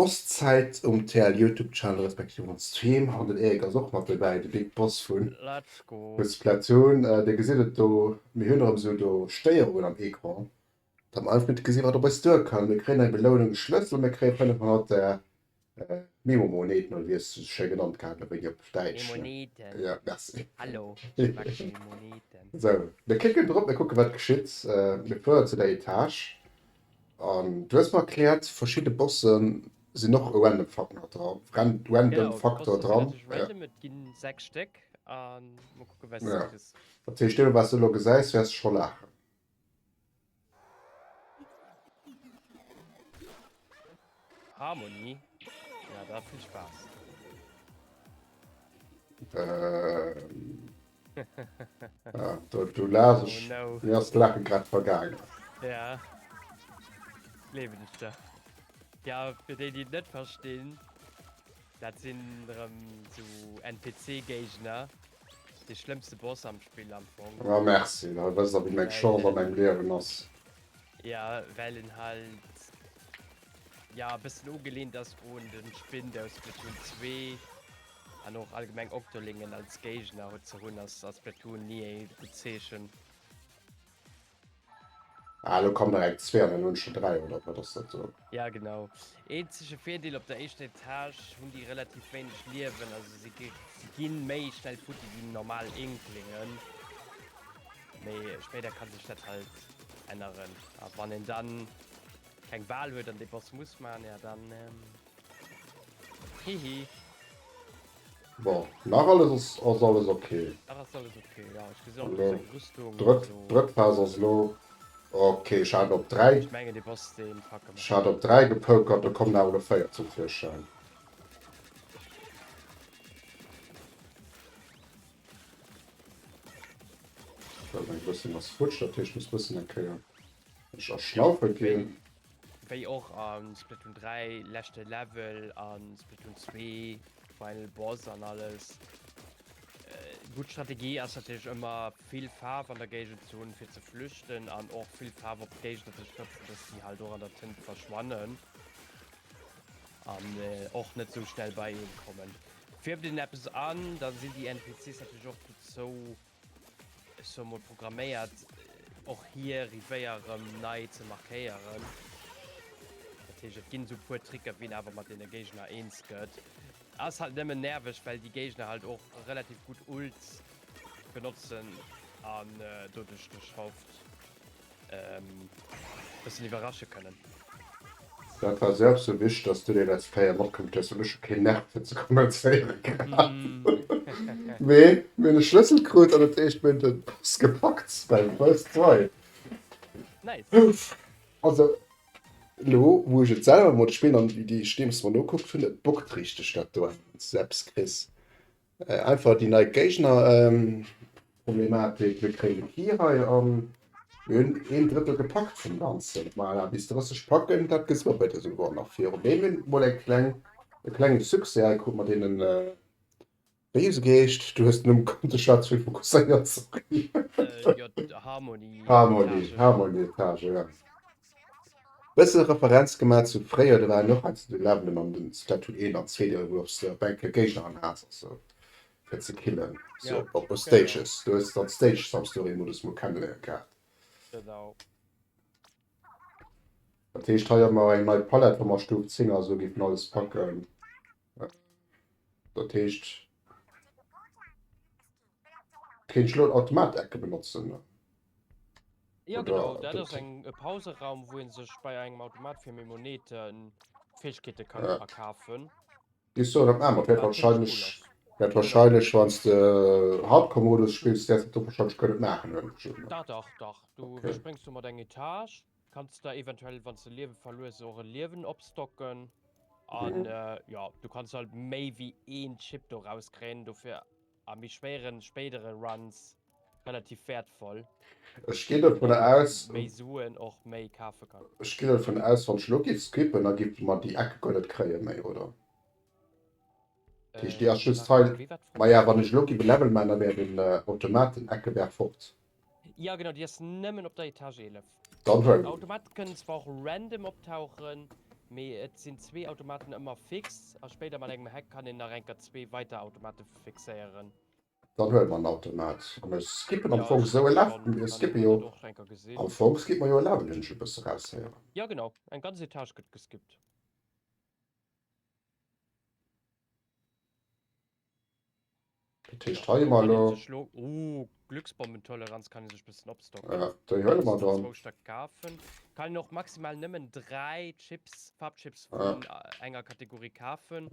D'Boss Zäit um TL Youtube Channel respektiv on Stream. An den Eric ass och mat dobäi, de Big Boss vu Splatoon. Dir gesitt et do, mir hunn erëm esou do Stéierungen am Ecran, datt mer einfach net gesi wat op eis duer kënnt. Mir kréien eng Belounung, e Schlëssel, mir kréie 500 Är Memomoneten, oder wéi ass se esou schéi genannt gehat, elo wéi déi op Däitsch ne? Jo, merci. Esou, mir klicken drop, mir kucke wat geschitt. Mir fuere zu der Etage, An du hues mer erklärt verschidden Bossen sin och e random Faktor dran, random Faktor dran, ja. Dat heescht deemno wats du elo gesäis wärs scho laachen. Ja, du, du lass oh, ich. No. Mir hast Lachen grad vergangen. Ja. Leben ist da. Ja, für die, die nicht verstehen, das sind ähm, so NPC-Gegner. Der schlimmste Boss am Spiel am Anfang. Ja, merci. Da weißt du, wie mein Chance an meinem Leben ist. Ja, weil ihn halt ja, ein bisschen angelehnt ist an den Spin aus Splatoon 2. An och allgemeng Octolingen als Géigner ze hunn ass a Splatoon ni ee gutt Zeechen. Ah, elo kommen direkt zwee an den uewensten dräi, oder wat ass dat do? Ja genau. Eenzege Virdeel, op der éischter Etage hunn déi relativ wéineg Liewen, also si ginn méi schnell futti wéi déi normal Inklingen. Mee spéider kann sech dat halt änneren. A wann een dann keng Wal huet an dee Boss muss man, ja dann. Hihi. Bon, nach alles ass, ass alles okay. Nach ass alles okay, ja. Ech gesi och deng Rüstung. Drëtt, drëtt Phas ass lo. Okay, ech hat op 3. Ech menge de bass de Fucker. Ech hat op 3 gepokert, do kommen awer lo 4 zum Virschäin. Eng Rüstung ass futsch, dat heescht muss bëssen eng Kéier ech erschnaufe ginn. Wéi och a Splatoon 3, leschte Level a Splatoon 2, Final Boss an alles. Gutt Strategie ass natierlech ëmmer vill Faarf an der Géigend ze hunn fir ze flüchten an och vill Faarf op d'Géigner ze sprëtzen, dass si halt och an der Tënt verschwannen an och net esou schnell bei een kommen. Fierft een eppes an, da sinn déi NPCs natierlech och dozou Ech hu mol programméiert och hier rivéier rem nei ze markéieren. Dat heesch et ginn sou puer Tricker wéi en awer mat deene Géigner eens gëtt. Ass halt nëmmen nerveg well déi Géigner halt och relativ gutt Ults benotzen an doduerch de Schaft ähm, bessen iwwerrasche kënnen. Dat war selbst so wich, dass du de letzt Féier matkommt hues an ech kee Nerv fir ze kommentéieren. Mee mir de Schlëssel krut an et éischt méint et ass gepackt bei First Try. Nice. Also lo wou ech et selwer mod spillen an wéi déi Steems mer nokuckt hunn, et bockt richteg dat do, wann s de eppes kriss. Einfach déi nei Géigner-Problematik. Mir kréien de Key hei an mir hunn een Drëttel gepackt vum Ganzen. Voilà, bis 30 packen, dat gëtt sou eppes esouguer nach virun. Mee mir hunn emol eng kleng, e klengen Succès hei krut mat deenen, wéi hu se geheescht? Du hues den Numm gekannt, ech war ze fokusséiert, sorry. Harmony, Harmony Etage, ja. Bësse Referenz gemat zu fréier, do waren och hei zu de Levelen mam den Statut een an zwee, do hues de op eng Kéier Géigner an Haas ass sou fir ze killen sou op e Stages, do hues de dann Stage some story Modus mol kenneléieren gehat. Dat heescht hei hu mer eng nei Palette wou mer Stuf 10 a sou géifen alles packen, dat heescht kéint ech elo en Automat-Ecke benotzen. Jo genau, dat ass eng e Pauseraum, wou een sech bei engem Automat fir Mimoneeten Fäegkeete ka verkafen. Gis du erëm aner, wäert wahrscheinlech, wäert wahrscheinlech wanns de Hardcore-Modus spills, wäers de do wahrscheinlech kënnen maachen oder net. Dach dach dach, du iwwerspréngs domat eng Etage, kanns der eventuell wanns de Liewe verlues och e Liewen opstocken an jo, du kanns halt méi wéi een Chip do rauskréien, dofir a méi schwéieren spéidere Runs relativ wertvoll. Ech ginn dovun aus, méi Suen och méi kafe kann. Ech ginn dovun aus, wann ech elo giff skippen, da giffe mer déi Eck guer net kréie méi, oder? Dat heescht, déi ass just hei. Maja, wann ech elo giff e Level maachen, da wär den Automat, den Eckeberg, fort. Jo, genau, déi ass nëmmen op der Etage 11. Dann huelen ech. Automaten kënnen zwar och random optauchen, mee et sinn zwee Automaten ëmmer fix. A spéider mat engem Hack kann een nach enker zwee weider Automate fixéieren. Dann huele mer en Automat a mir skippen am Fong esou e Level. Mir skippe jo am Fong skippe mer jo e Level, hunn ech e bësse raushéieren. Jo genau, eng ganz Etage gëtt geskippt. Dat heescht hei hu mer elo. Ooh Glücksbombentoleranz kann ee sech bëssen opstocken. Jo déi huele mer dann. Zwou Stéck kafen. Kann een och maximal nëmmen 3 Chips, Farbchips vun enger Kategorie kafen.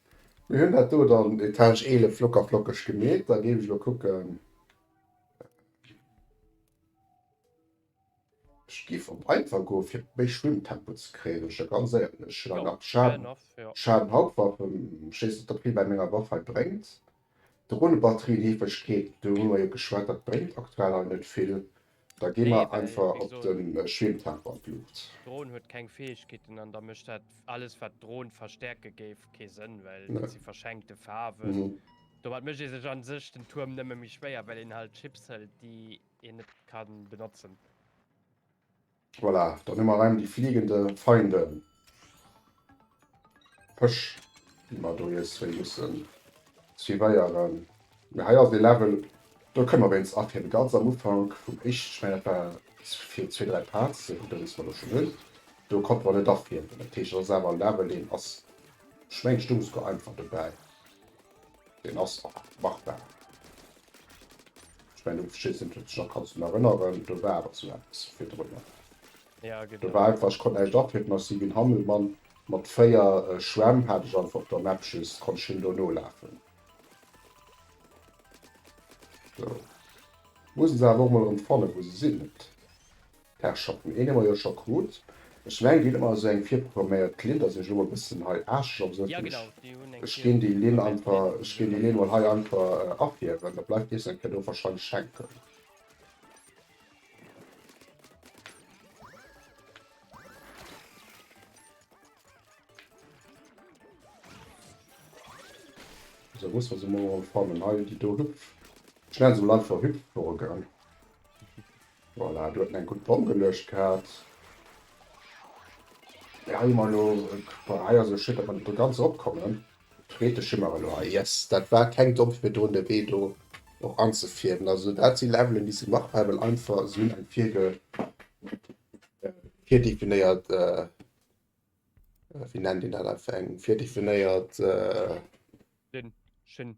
Mir hunn dat do dann Etage 11 locker flockeg gemeet. Da géif ech elo kucken, ech géif op einfach goen, fir méi Schwimmtempo ze kréien, ech der ganz éierlech. Schadenhauptwaffen, ech weess net, ob hie bei menger Waff hei bréngt. Dronebatterien-Heefegkeet, do hu mer jo geschwat, dat bréngt aktuell nach net vill. Da gi mer einfach op de Schweemtemper d'Luucht. D'Dron huet keng Fäegkeeten an da mécht dat alles, wat d'Dron verstäerke géif, kee Sënn, well dat si verschenkte Faarwen. Domat mécht ee sech a sech den Tuerm nëmme méi schwéier, well een halt Chips hëlt, déi een net ka benotzen. Voilà, dann hu mer erëm déi fliegende Feinde Pësch, déi mer do nees wéi mussen suivéieren. Mee hei ass et ee Level, do kënne mer wéinst a fir de ganz am Ufank vum éischten, ech mengen dat war fir zwee, dräi Parts, dee Button, dee se mer elo schonn hunn, do konnte mer net afliegen. Dat heescht, dat ass awer e Level, deen ass, ech mengen, stung esouguer einfach dobäi. Den ass machbar. Ech mengen um Schissen huet sech nach kannst du nach erinnern, do war awer zu eppes fir drënner. Ja, genau. Da war einfach, ech konnt näischt atrippen, ech si wéi en Hammelmann mat 4 Schwämm hat ech einfach op der Map just, konnt ech him do nolafen. So. Mussen se awer och mol erëm fannen, wou se sinn. Et Herrschaften, een hu mer jo scho krut. Ech mengen, déi hunn ëmmer esou eng virprogramméiert Linn, dass ech elo e bëssen hei aarschelen op esou Tisch. Ech géing déi Linn einfach, ech géing déi Linn emol hei einfach afierwen, da bleift dees eng Kéier do warscheinlech hänken. Esou, muss mer se emol fannen. Hei, déi do hüpf. Ech nennen se emol einfach Hüpfburgen. Voilà, do huet en eng gutt Pomm geluecht gehat. Hei hu mer elo, bon, hei ass elo schéin, datt mer net do ganz eropkommen. D'Freedesch hu mer elo hei. Yes, dat war keng Domm fir do de Wee do och anzefierwen. Also dat si Levelen, déi si machbar, well einfach si hunn eng virge, virdefinéiert, wéi nennt een dat, einfach eng virdefinéiert. Dinn, Schinn,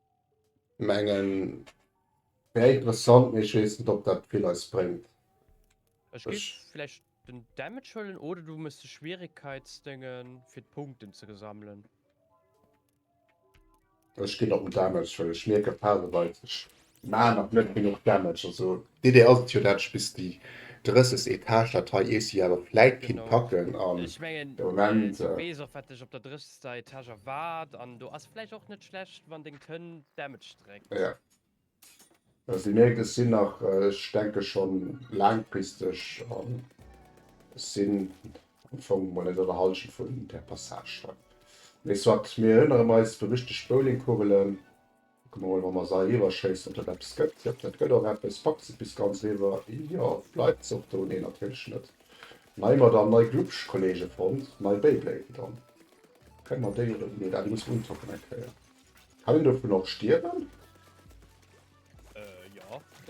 Mengen wär interessant, mee ech wees net op dat vill eis bréngt. Ech géif vläicht den Damage huelen oder du mëss de Schwieregkeitsdéngen fir d'Punkten ze gesammelen. Ech ginn op den Damage, well ech mierken phaseweis ech maachen nach net genuch Damage. Also d'Idee ass et jo dat ech bis déi 30 Etage dat hei AC awer vläit kinnt packen an de Moment. Dei Etage erwaard, an do ass vläicht och net schlecht wann deng Tönn Damage dréckt. Jo, also déi Märkt ech sinn nach, ech denke schonn laangfristeg, an ech sinn am Fong mol net an der Hallschent vun där Passage hei. Mee soit, mir erënneren eis, berüchtegt Bowlingkugelen, Kucke mer mol, wa mer se eriwwerschéissen, ob dat eppes gëtt. Jop, dat gëtt och eppes. Packt se et bis ganz eriwwer? Jo. Bleift se och do? Nee, natierlech net. Nei Madamm, nei Glubsch, Kollege fonnt. Nei Beyblade dann. Kënne mer déi oder déi? Nee, dat muss untoppen eng Kéier. Kann een dovun och stierwen?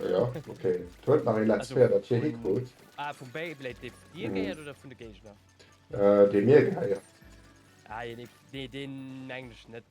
Jo, okay. Et huet nach ee Let's Fair, dat hie hikrut. Vum Beyblade, dee dir gehéiert oder vun de Géigner? Dee mir gehéiert. Nee, deen englescht net.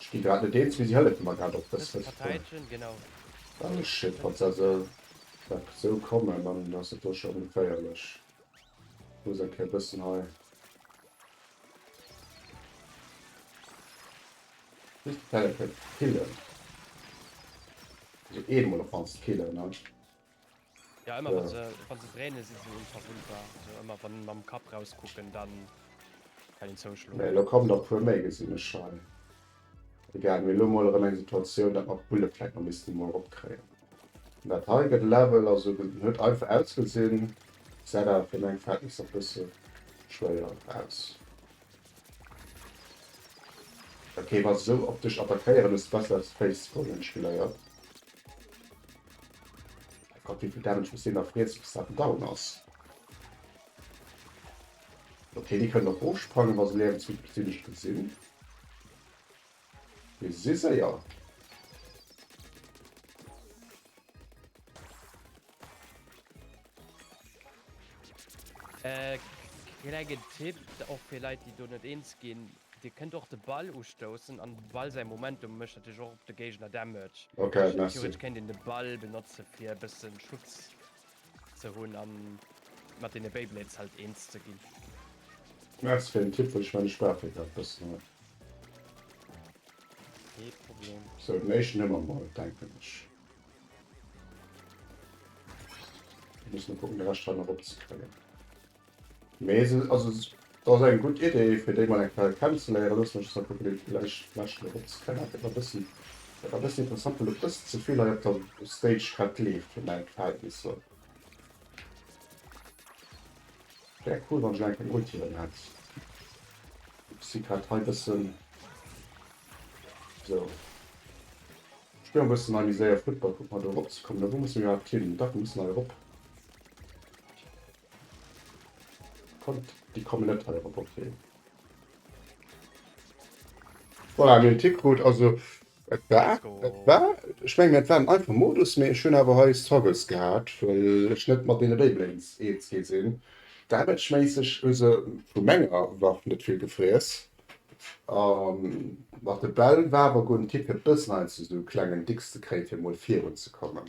Ech gi grad net eens wéi si hëllefe mer grad op dës Lëscht bréngen. Well ech jiddferenst aus esou enger Episod kommen, dann ass et do scho ongeféierlech. Ech muss eng Kéier e bëssen hei. Just d'Pellekäpp killen. Also eemol op d'mannst killen, ne? Jo emmer wann se wann se dréinen si se onverwundbar, also emmer wann se mam Kapp raus kucken dann kann een zouschloen. Mee elo kommen der puer méi gesinn ech hei. Egal, mir hu lo mol erem eng Situatioun dat mer d'Bulle vläit nach missten emol erop kréien. An dat hei gëtt Level, also gëtt huet einfach ausgesinn säit awer fir meng Verhältnisser bësse schwéier aus. Ok wa se sou op dech attackéieren hues de besser aus Face goen hunn ech geléiert. Gott, wéivill Damage muss deen da friessen, bis dat down ass? Ok, déi kënnen och ofsprangen, wa se Liewensmëttelgesinnegt gesinn. Déi si séier. Äh, klenge Tipp, och fir Leit, déi do net eens ginn. Dir kënnt och de Ball ustoussen an dem Ball säi Momentum mécht natierlech och op de Géigner Damage. Theoretesch kéint een de Ball benotze fir e bësse Schutz ze hunn a mat deene Beyblades halt eens ze ginn. Merci fir den Tipp, well ech mengen ech brauch dee grad e bëssen hei. Kee Problem. Sou, den éischten hu mer mol, denken ech. Muss mol kucken de Rescht hei nach opzekréien. Mee se also et ass eng gutt Idee fir déi mol eng Kéier kennenzeléieren. Loosse mech esou kucken déi vläicht d'Lescht mol opzekréien. Awer et ass e bëssi interessant well et e bëssi ze vill hei op der Stage grad gleeft fir mäin Verhältnisser. Wär cool wann ech elo eng keng Ulti erëm hätt. Ech si grad hei bëssen esou, ech spillen e bëssen hei méi séier Football. Kucken mer do erop ze kommen. Wou musse mir iwwerhaapt hin? Dach mir mussen hei erop. Kommt, déi kommen net hei op e Portrait. Voilà, mir hunn d'Tipp krut. Also et war, et war, ech mengen et war en einfach Modus, mee ech hunn awer hei Struggles gehat, well ech net mat deene Beyblades eens gi sinn. Damage-méisseg hu se vu menger Waff net vill gefriess. A mat de Bäll war awer gonn. D'Tipp huet bëssen Angst, esou e klengen Dicks ze kréien, fir emol virunzekommen.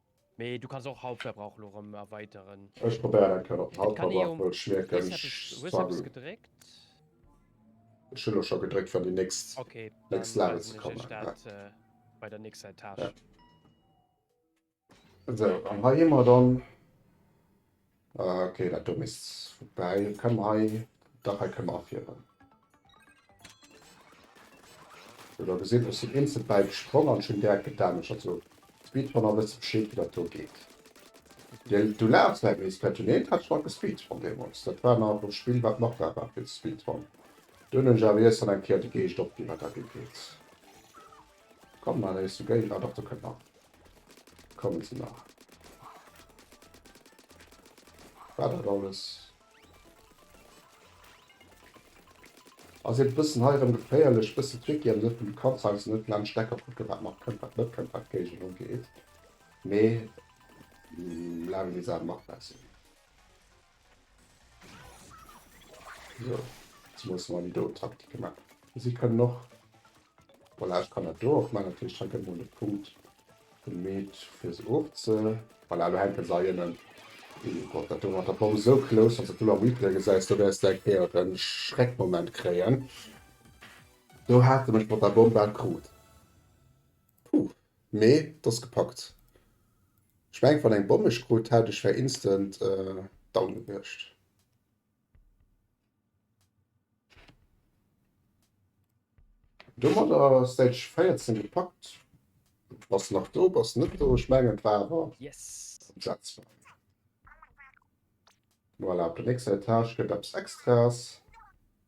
Mee du kanns och Hauptverbrauch elo rem erweiteren. Ech probéieren eng Kéier op den Hauptverbrauch, well ech mierken ech struggle. Ech hunn elo scho gedréckt fir an déi nächst nächst Level ze kommen. Esou an hei hu mer dann. Ok, dat do misst vorbäi kommen hei. Dach, hei kënne mer afieren. Sou, der gesitt, ech sinn instant bäi gesprong an ech hunn direkt gedamaged. Also d'Speedrunner wësse Bescheed, wéi dat do geet. Du laachs, Mike, mee Splatoon 1 hat ech nach gespeedrun deemools. Dat war nach e Spill, wat machbar war fir ze speedrunnen. Dunn hunn ech awer iergendwann eng Kéier de Geescht opginn, wat dat ugeet. Komm mal eis du géint nach Doktor kënnt nach kommen ze nach war dat alles as e bëssen heirem geféierlech bëssen tricky an net vun de Kanzheims net laang Steck kaputt gët wat nach kënnt wat net kënnt wat d'Géigend ugeet mee laang bis a machbar sinn. So, jetzt muss man die do Taktik gemacht. Sie können noch. Voilà, ich kann das do auch machen. Natürlich schon können wir Punkt gemäht für sie auch zu. Voilà, du hängen sie innen. Oh Gott, das war der Bombe so close, dass du am Replay gesagt du wirst gleich eher einen Schreckmoment kriegen. Du hast mich mit der Bombe akut. Puuh, mee t'ass gepackt. Ech mengt wann eng Bomm mech krut hätt ech wär instant down gewiescht. Domadder ass stage 14 gepackt. Bass nach do, bass net do, ech mengen et war awer emsetzbar. Voilà op der nächster Etage gëtt eppes extras.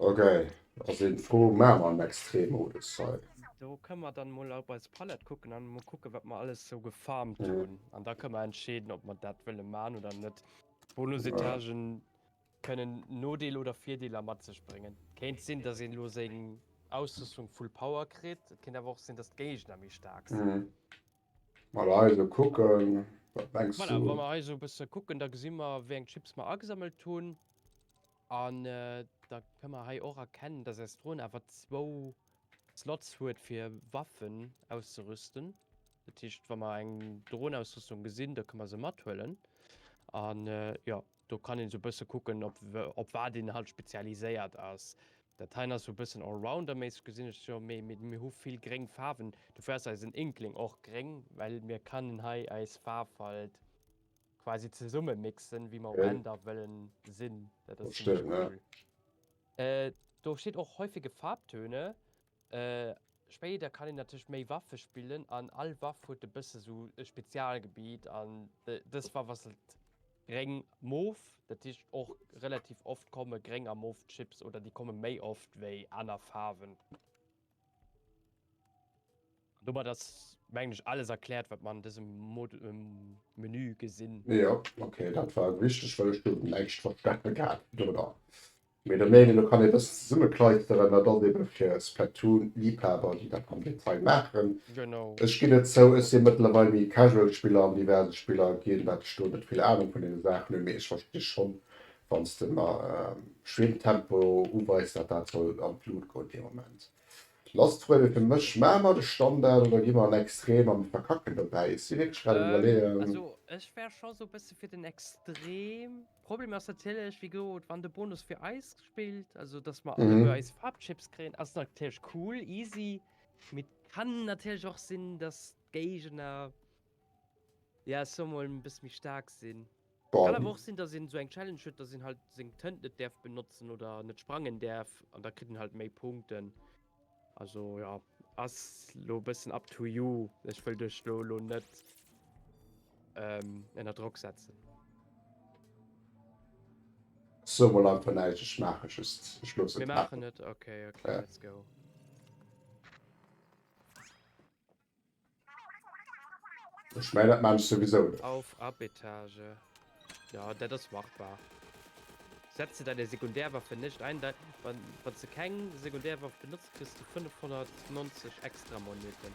Ok, ass een frou, maan mer en Extrem-Modus hei. Do kënne mer dann mol op eis Palette kucken an mol kucken wat mer alles sou gefarmt hun an da kënne mer entscheeden op mer dat wëlle maan oder net. Bonus-Etagen kënnen Nodeel oder Virdeeler mat sech bréngen. Kéint sin dass een lo seng Ausrüstung full Power kritt, et kéint awer och sin dass d'Géigner méi staark sin. Mal hei esou kucken, wat mengs du? Voilà, wa mer hei esou e bësse kucken, da gesi mer, wéi eng Chips mer agesammelt hunn. An da kënne mer hei och erkennen, dass äis Dron awer zwou Slots huet, fir Waffen auszerüsten. Dat heescht, wa mer eng Dronausrüstung gesinn, da kënne mer se mathuelen. An jo. Do kann een esou e bësse kucken, op op wat een halt spezialiséiert ass. Dat heien ass esou e bëssen allrounder-méisseg, gesinn ech jo. Mee mir hu vill gréng Faarwen, dofir ass eisen Inkling och gréng, well mir kënnen hei eis Faarf halt quasi zesumme mixen, wéi mer um Enn da wëllen sinn. Dat ass zimlech cool. Do steet och häufige Farbtöne. Spéider kann een natierlech méi Waffe spillen an all Waff huet e bësse sou e Spezialgebiet an dës Waff ass halt gréng moof, dat heescht och relativ oft komme gréng a moof Chips oder déi komme méi oft wéi aner Faarwen. Domat ass mengen ech alles erkläert wat mer an dësem Menü gesinn. Jo ok, dat war wichteg well ech do näischt verstanen hat dono. Mee der Meenung no kann ee dëst zesummekleisteren, dat ass ebe fir Splatoon-Liebhaber, déi dat am Detail maachen. Ech ginn et zou, ech si mëttlerweil méi Casual-Spiller an diverse Spiller ginn dat ech do net vill Anung vun deene Saachen hunn. Mee ech versti schonn, wann s de mer Schwimmtempo uweis, dat dat soll an d'Lut goen dee Moment. Last Froe fir mech, Maache mer de Standard oder gi mer an Extrem a mir verkacken dobäi? Ech si wierklech grad um Iwwerleeën. Problem ass natierlech, wéi gesot, wann de Bonus fir eis spillt, also dass mer alle mhm. eis Farbchips kréien, ass natierlech cool, easy. Mit kann natierlech och sinn, dass Géigner ja so mal ein bisschen mich stark sinn. Kann aber auch sinn, dass in so eng Challenge huet, dass sinn halt seng Tënt net därf benutzen oder net sprangen därf an da kritt halt méi Punkten. Also jo, ass lo e bëssen up to you. Ech wëll dech do lo net ënner Drock setzen. Sou mol einfach näischt, ech maache just, ech loossen et maachen. Mir maachen et, ok, ok, let's go. Ech mein dat maan ech souwisou net. Auf ab Etage. Jo, dat ass machbar. Setze deine Sekundärwaffe nicht ein. Dei, wann, wann du keng Sekundärwaff benotzt, kriss du 590 extra Moneten.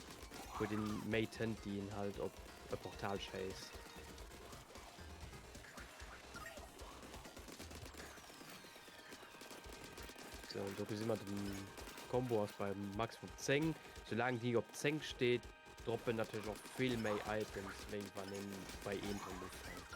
Huet een méi Tënt déi een halt op e Portal schéisst? Sou an do gesi mer den Combo ass beim Maximum 10. Sou laang déi op 10 steet droppen natierlech och vill méi Items wéi wann een bei een Tënt ufänkt.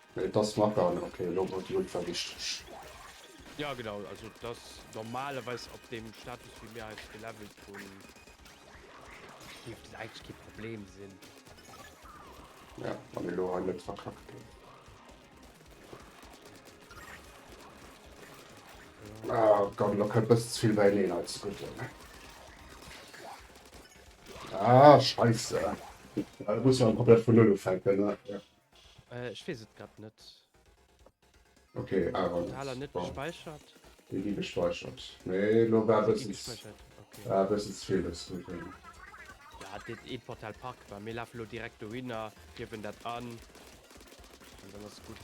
Mee et ass nach gaangen, ok elo gouf et ultra wichteg. Jo genau, also et ass normalerweis op deem Status wéi mir eis gelevelt hunn, dierft et eigentlech kee Problem sinn. Ja, wann elo hei net verkackt gëtt. Ah komm, elo kënnt e bëssen ze vill beieneen hei ze gudden. Ah, Scheisse. Da muss een komplett vun Null ufänken, ne? Äh, ech wees et grad net. Ok, awer net. Haler net gespeichert. Déi gi gespeichert. Nee, elo war bëssen war bëssen ze vill dës Routin. Ja, dit eent Portal packt mer. Mir lafe lo direkt dohinner, giewen dat an an dann ass gutt.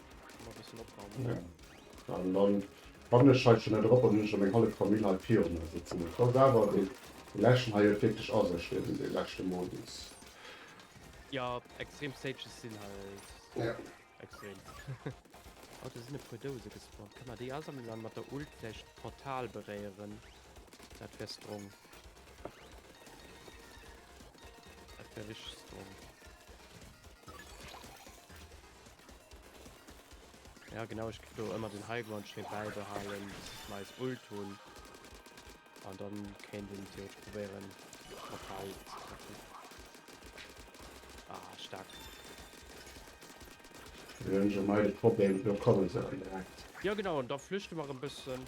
Mal bisschen opwarmen. Ja. An dann wann ech hei schon drop an hun schon meng hallef Famill hei virun mer sitzen. Et ass awer de läschen hei huet wierklech a sech den den läschte Modus. Jo, extrem Stages sinn halt ja extrem. Oh do sinn e puer Douse gespawnt. Kann mer déi asammelen an mat der Ult vläicht d'Portal beréieren. Dat wär strong. Dat wär richteg strong. Ja genau, ich do immer den Highground schön beibehalen, meist Ult hun an dann kennt den Tier probieren Portal zu treffen. Ah, stark. Wir haben schon mal das Problem, wir kommen so direkt. Ja genau, und da flüchten wir ein bisschen.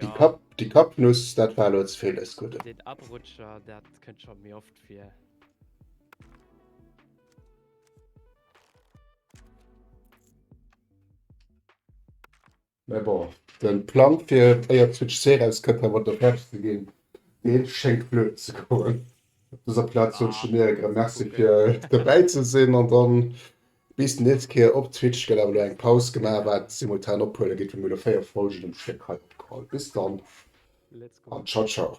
Déi Kapp, déi Kappnuss, dat war elo ze vill dëst Gudden. Deen Abrutscher, dat kënnt scho méi oft vir. Mä bon, de Plang fir éier d'Switch C erauskënnt nach emol d'Offertë ze ginn, dee schéngt flöten ze goen. Op dëser Plaz wënsche mir iech erëm Merci fir dobäi ze sinn an dann Bis den nächste Kéier op Twitch gëtt awer elo eng Paus gemaach, wat simultan ophuele gitt, wou mir elo 4 Folgen um Stéck hei opgeholl. Bis dann an ciao ciao.